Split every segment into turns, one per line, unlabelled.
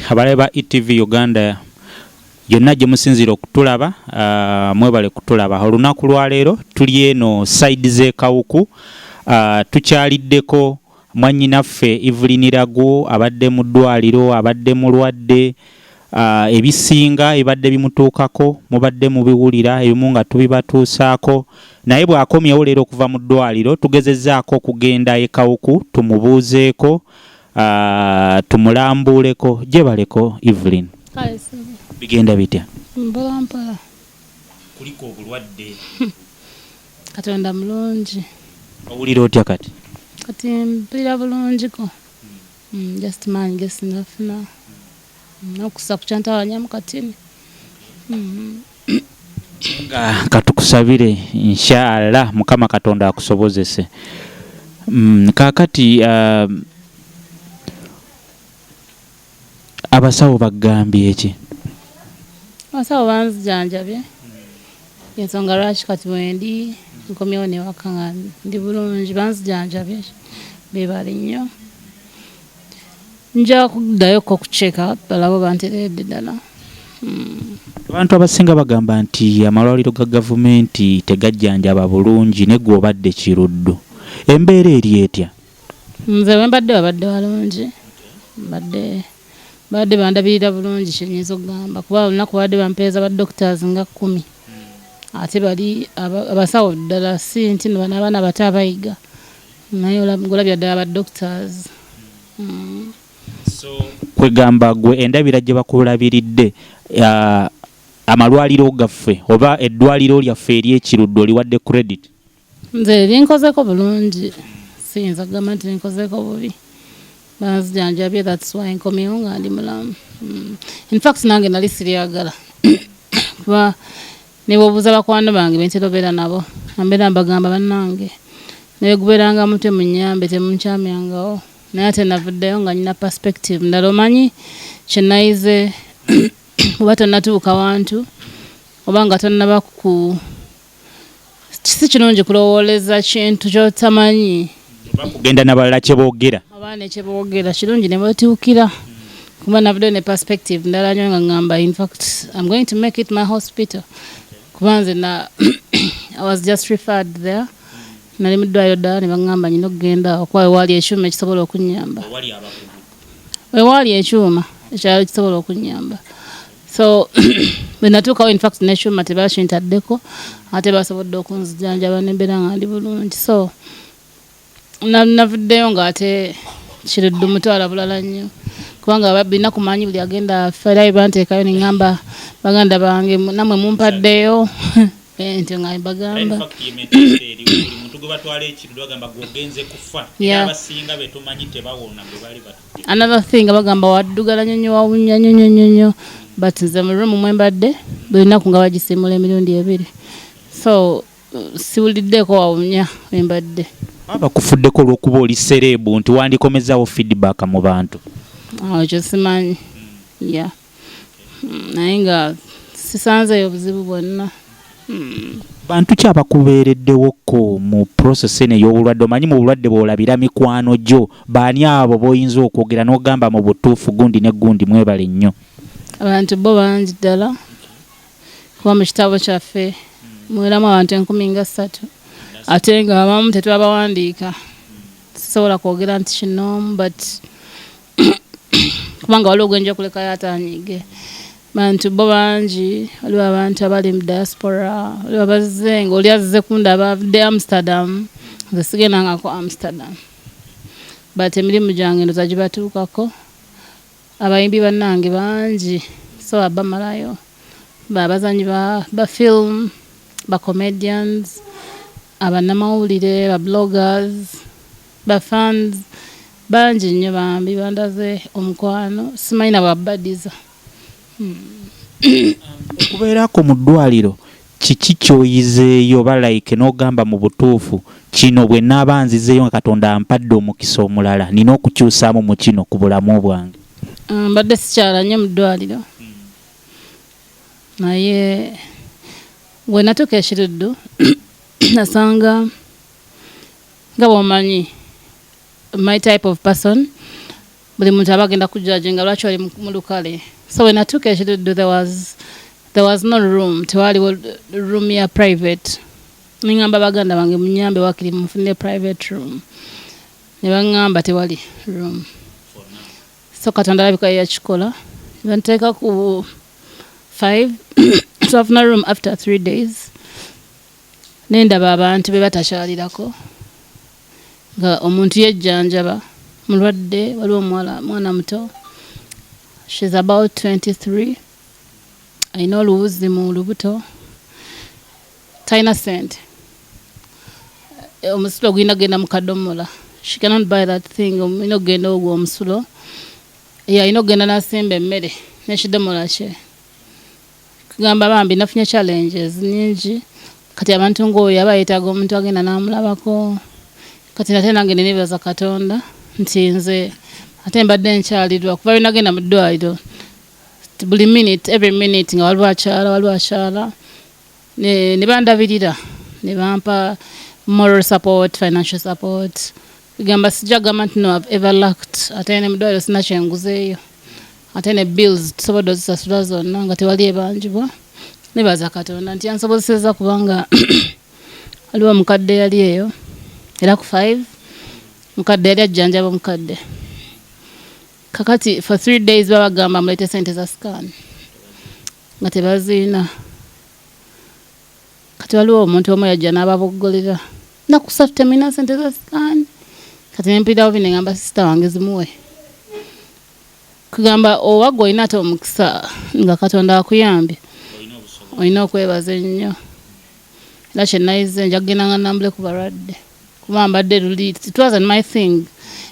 abalabe ba etv uganda yonna gye musinziira okutulaba uh, mwebale kutulaba olunaku lwaleero tuli eno saidi z'ekawuku uh, tukyaliddeko mwannyinaffe evelyn ragu abadde mu ddwaliro abadde mulwadde uh, ebisinga ebibadde bimutuukako mubadde mubiwulira ebimu nga tubibatuusaako naye bw'akomyewo leero okuva mu ddwaliro tugezezzaako okugenda ekawuku tumubuuzeeko uh, tumulambuuleko gyebaleko Evelyn bigenda bitya mpolampola kuliko obulwadde
katonda mulungi owulira
otya kati kati
mpulira bulungiko hmm. hmm, just maanyi gesinafuna hmm, nokusa kukyantawanyamu katini
katukusabire inshallah mukama katonda akusobozese mm, kakati uh, abasawo bagambye eki
abasawo banzijanjabye ensonga lwaki kati wendi nkomyewo newaka nga ndi bulungi banzijanjabye bebali nnyo nja kuddayo ko kuceka balaba oba ntereedde ddala hmm.
abantu abasinga bagamba nti amalwaliro ga gavumenti tegajjanjaba bulungi ne gwe obadde kiruddu embeera eri etya nze bwe
mbadde babadde balungi mbadde babadde bandabirira bulungi kyenyinza okugamba kuba olunaku babadde bampeereza ba doctors nga kkumi ate bali abasawo ddala si nti nobanabaana abato abayiga naye olabya ddala ba doctors mm.
so kwegamba gwe endabira gye bakulabiridde uh, amalwaliro gaffe oba eddwaliro lyaffe eryekirudde oliwadde credit nze
linkozeko bulungi siyinza kugamba nti linkozeko bubi banzijanjabye thats why nkomyewo nga ndi mulamu mm. infact nange nali siryagala kuba Nebwobuza bakwano bange bentera obeera nabo ambeera mbagamba banange neweguberanga mutwe munyambe temunkyamyangawo naye ate navuddeyo nga nyina perspective ndala omanyi kyenayize oba tonatuuka wantu oba nga tonaba ku si kirungi kulowooleza kintu kyotamanyi kugenda
nabalala kyebogera abaana ekyebogera
kirungi nebatiukira kuba navudde ne perspective ndala nyo nga ngamba infact im going to make it my hospital kuba nze na i was just referred there nali muddwaliro ddala nebaŋamba nyina okugenda okuba wewaali ekyuma ekisobola okunyamba wewaali ekyuma ekyalo kisobola okunyamba so bwe natuukawo infact nekyuma tebakintaddeko ate basobodde okunzijanjaba nembeera nga ndi bulungi so navuddeyo nga ate kiriddu mutwala bulala nnyo kubanga babina kumanyi buli agenda fera ebanteekayo neŋamba baganda bange namwe mumpaddeyo ente nga mbagamba another thing abagamba waddugala nyonyo wawunya nyonyo nyonyo but nze mu room mwe mbadde buli nnaku nga bagisiimula emirundi ebiri so siwuliddeeko wawunya we mbadde abakufuddeko
olw'okuba oli sereebu nti wandikomezaawo feedback mu bantu awo kyo
simanyi ya yeah. hmm, naye nga sisanzeeyo buzibu bwonna hmm.
bantu ki abakubeereddewokko mu process eno ey'obulwadde omanyi mu bulwadde bw'olabira mikwano gyo baani abo b'oyinza okwogera n'ogamba mu butuufu gundi ne gundi mwebale nnyo abantu bo
bangi ddala kuba mu kitabo kyaffe mweramu abantu enkumi nga ssatu ate nga abamu tetwabawandiika sisobola kwogera nti kinoomu but kubanga waliwo gwenja kulekayo atanyige bantu bo bangi waliwo abantu abali mu diaspora waliwo abazze nga oli azze kunda abavudde amsterdam nze sigendangako amsterdam but emirimu gyange ndoza gibatuukako abayimbi bannange bangi so abamalayo babazanyi ba film ba comedians abanamawulire ba bloggers ba fans Bangi nnyo bambi bandaze omukwano simanyi na bwabadiza.
Okubeerako mu ddwaliro kiki ky'oyizeeyo oba like n'ogamba mu butuufu kino bwe naaba nzizeeyo nga Katonda ampadde omukisa omulala nina okukyusaamu mu kino ku bulamu bwange? Mbadde
sikyala nnyo mu ddwaliro naye bwe natuuka e Kiruddu nasanga nga bw'omanyi my type of person buli muntu aba agenda kujjaje nga lwaki oli mu lukale so when i took ekidudu there was there was no room tewaliwo room ya private ningamba baganda bange munyambe wakiri mufunire private room ne baŋŋamba tewali room so katonda alabika yeyakikola banteeka ku five twafuna room after three days nendaba abantu be batakyalirako nga omuntu yejjanjaba mulwadde waliwo omuwala mwana muto shes about 23 alina oluwuzi mu lubuto talina sente omusulo ogulina kugenda mu kadomola she cannot buy that thing olina okugenda ogwo omusulo yalina okugenda nasimba emmere nekidomola kye kugamba bambi nafunye challenges nyingi kati abantu ng'oyo aba yeetaaga omuntu agenda n'amulabako kati nate nange nenebaza katonda nti nze ate mbadde nkyalirwa kuba binagenda mu ddwaliro buli minute every minute nga waliwo akyala waliwo akyala ne bandabirira ne bampa moral support financial support Gamba sijja gamba nti no have ever lacked ate ne mudwaliro sina kyenguzeeyo ate ne bills tusobodde ozisasula zonna nga tewali ebanjibwa nebaza katonda nti yansobozeseza kubanga waliwo omukadde yali eyo era ku five mukadde yali ajjanjaba omukadde kakati for three days babagamba mulete sente za scan nga tebaziina Kati waliwo omuntu omu yajja n'ababoggolera nnaku ssatu temulina sente za sikaani kati ne mpulirawo bino ngamba sisita wange zimuwe kugamba oba gwe olina ate omukisa nga katonda akuyambye olina okwebaza ennyo era kyenayize nja kugenda nga nambule ku balwadde kuba mbadde luli it was my thing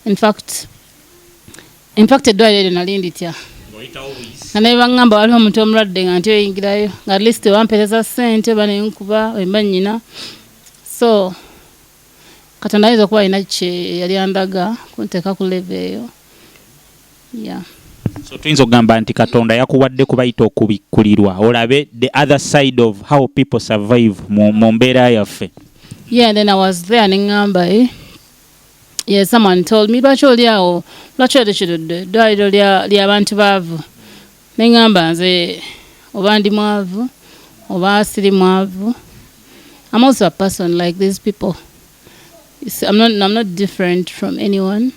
in fact infact eddwaliro eryo nali nditya nga naye baŋŋamba waliwo omuntu omulwadde nga nti oyingirayo nga at least wampereza ssente oba nenkuba wemba nnyina so katonda ayinza okuba alina kye yali andaga kunteeka ku leve eyo ya so
tuyinza okugamba nti katonda yakuwadde kubayita okubikkulirwa olabe the other side of how people survive mu mbeera yaffe yeah then i
was there ne ŋŋamba e eh? Yes, someone told me lwaki oli awo lwaki otekiridde eddwaliro lya bantu baavu ne ŋŋamba nze oba ndi mwavu oba siri mwavu I'm also a person like these people I'm not, I'm not different from anyone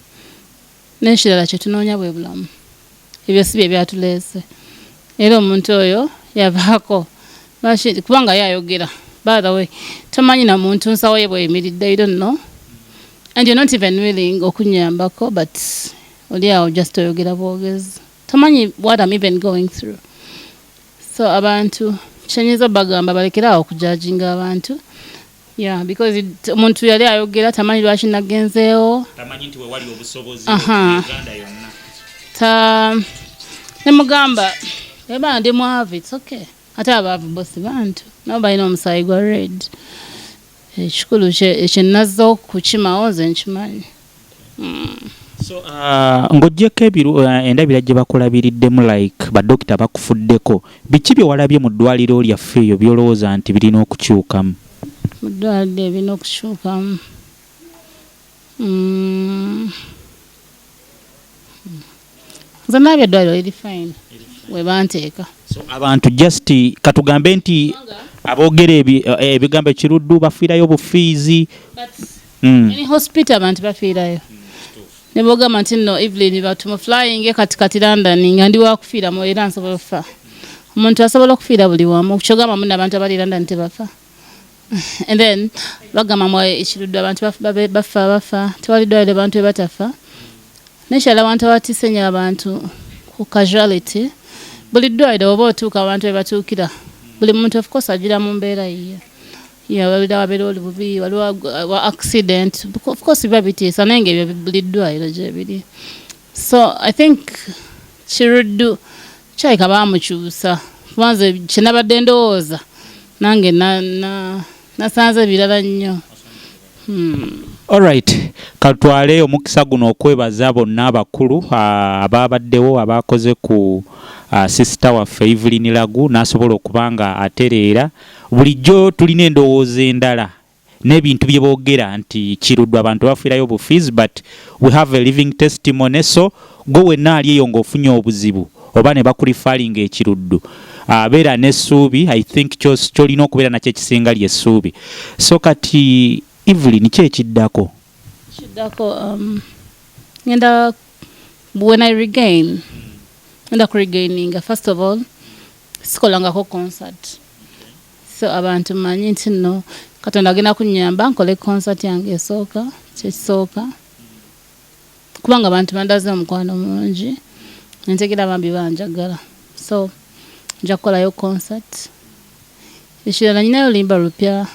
N'ekirala kye tunoonya bwe bulamu. Ebyo si bye byatuleese. Era omuntu oyo yavaako. Lwaki? Kubanga ye ayogera. By the way, tomanyi na muntu nsawo ye bw'eyimiridde. You don't know. And you're not even willing okunnyambako but oli awo just oyogera bwogezi. Tomanyi what I'm even going through. So abantu kye nyinza bagamba balekere awo okujajinga abantu. Yeah, because omuntu yali ayogera tamanyi lwaki nagenzeewo tamanyi nti wewali obusobozi uganda yonna ta nemugamba eba ndi mwavu its okay ate abaavu bosi bantu nabo balina omusaayi gwa red ekikulu kyenazza okukimawo nze nkimanyi
mm. so uh, ng'ogyeko ebiru uh, endabira gye bakulabiriddemu like badokita bakufuddeko biki bye walabye mu ddwaliro lyaffe eyo byolowooza nti birina okukyukamu mu
ddwaliro ebirina okukyukamu mm. nze naaba eddwaliro liri fine we banteeka abantu
just katugambe nti aboogera eh, ebigambo ekiruddu bafiirayo obufiizi hmm.
hospital abantu bafiirayo ne bogamba nti nno evelyn batuma flying katikati london nga ndi wakufiiramu era nsobola okufa omuntu asobola okufiira buli wamu kyogamba muna abantu abali london tebafa and then bagamba mwa ekirudde abantu bafa bafa tewali ddwaliro abantu bebatafa nekyala abantu abatise nyo abantu ku casuality buli ddwaliro oba otuuka abantu bebatuukira buli muntu of course agira mu mbeera yiye yawabira wabeera oli bubi waliwo wa accident of course biba bitiisa naye nga ebyo buli ddwaliro gyebiri so i think kiruddu kyaleka baamukyusa kuba nze kyenabadde ndowooza nange nasanze ebirala nnyo hmm. Alright,
katwale omukisa guno okwebaza bonna abakulu ah, abaabaddewo abaakoze ku ah, sisita waffe Evelyn Lagu n'asobola okuba nga atereera. Bulijjo tulina endowooza endala nebintu byebogera nti kirudwa abantu bafiirayo bu fees but we have a living testimony so gwe wenna ali eyo ngaofunye obuzibu oba ne bakulifalinga ekiruddu ah, beera n'essuubi i think kyolina okubeera nakyo ekisinga lyessuubi so kati evelyn ki ekiddako kiddako um,
ngenda when i regain ngenda kuregaininga first of all sikolangako concert so abantu manyi nti no katonda agenda kunyamba nkole concert yange esooka kyekisooka kubanga abantu bandaze omukwano mungi entegera bambi banjagala so nja kukolayo concert ekirala nyinayo limba lupya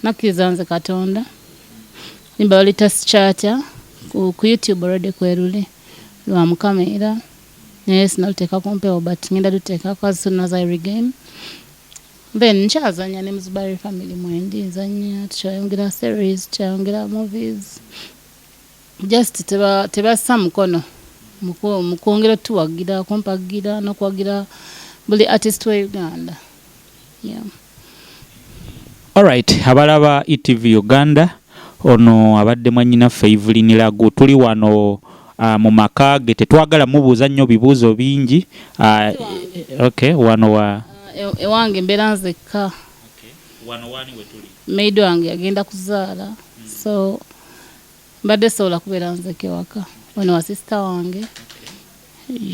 nakkiriza nze katonda limba balita sikyatya ku youtube olwedde kweruli lwa mukama era naye sinaluteeka ku mpewo but ngenda luteekako as soon as i regain then nkyazanya ne muzubari family mwendi nzanya tukyayongera series tukyayongera movies just tebassa teba mukono mukwongera otuwagira kumpagira nokuwagira buli artist we uganda yeah.
Alright, abalaba ETV Uganda ono abadde mwannyinaffe Evelyn Lagu tuli wano uh, mu maka ge tetwagala mubuuza nnyo bibuuzo bingi uh, okay, wano wa ah, e-, ewange mbeera
nzekka okay.
wano wani wetuli maid wange agenda kuzaala
hmm. so mbadde sobola kubeera nzeka ewaka ono wa sisita wange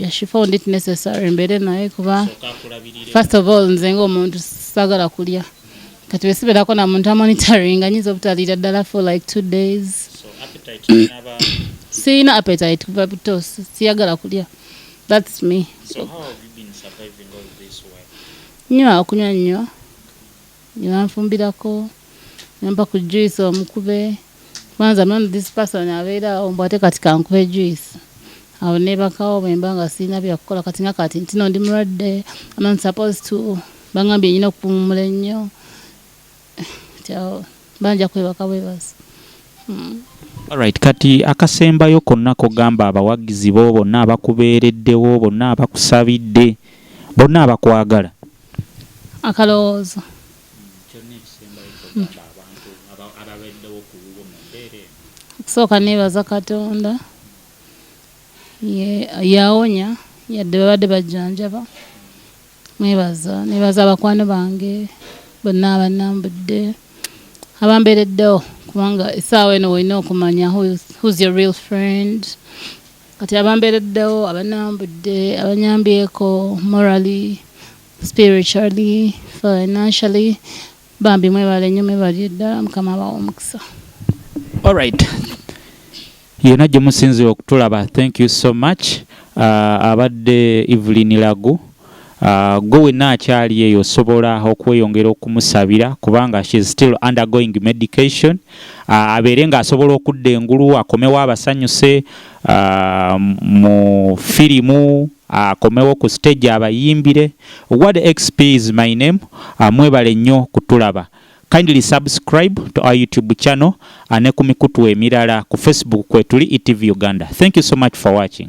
yashifond it necessary mbeere naye kuba first of all nze ngaomuntu sagala kulya kati besibeerako na muntu amonitoring anyinza obutaliira ddala for like two days
sirina
appetite kuva buto siyagala kulya thats me
nywa okunywa
nnyo nebanfumbirako nempa ku juice omukube kwanza man this person abeera awo mbu ate kati kankuhe juice awo nebakawo bwemba nga sirina byakukola kati nga kati ntino ndi mulwadde aman supposed to bangambye nyina okupumumula ennyo kyawo banja kwebaka bwebasi hmm.
Alright, kati akasembayo konna kogamba abawagizi bo bonna abakubeereddewo bonna abakusabidde bonna abakwagala
akalowoozo okusooka nebaza katonda yawonya yadde babadde bajjanjaba mwebaza nebaza abakwano bange bonna abanambudde abambeereddewo kubanga esaawa eno olina okumanya who's your real friend kati abambeereddewo abanambudde abanyambyeko morally spiritually financially bambi mwebale nyo mwebale ddala mukama abawa omukisa alright
yena gye musinzira okutulaba thank you so much uh, abadde evelyn lagu uh, gwe wenna akyali eyo osobola okweyongera okumusabira kubanga she is still undergoing medication uh, abeere ng'asobola okudda engulu akomewo abasanyuse uh, mu firimu akomewo ku stage abayimbire word xp is my name ah, mwebale nnyo kutulaba kindly subscribe to our youtube channel ah, ne ku mikutu emirala ku facebook kwetuli etv uganda thank you so much for watching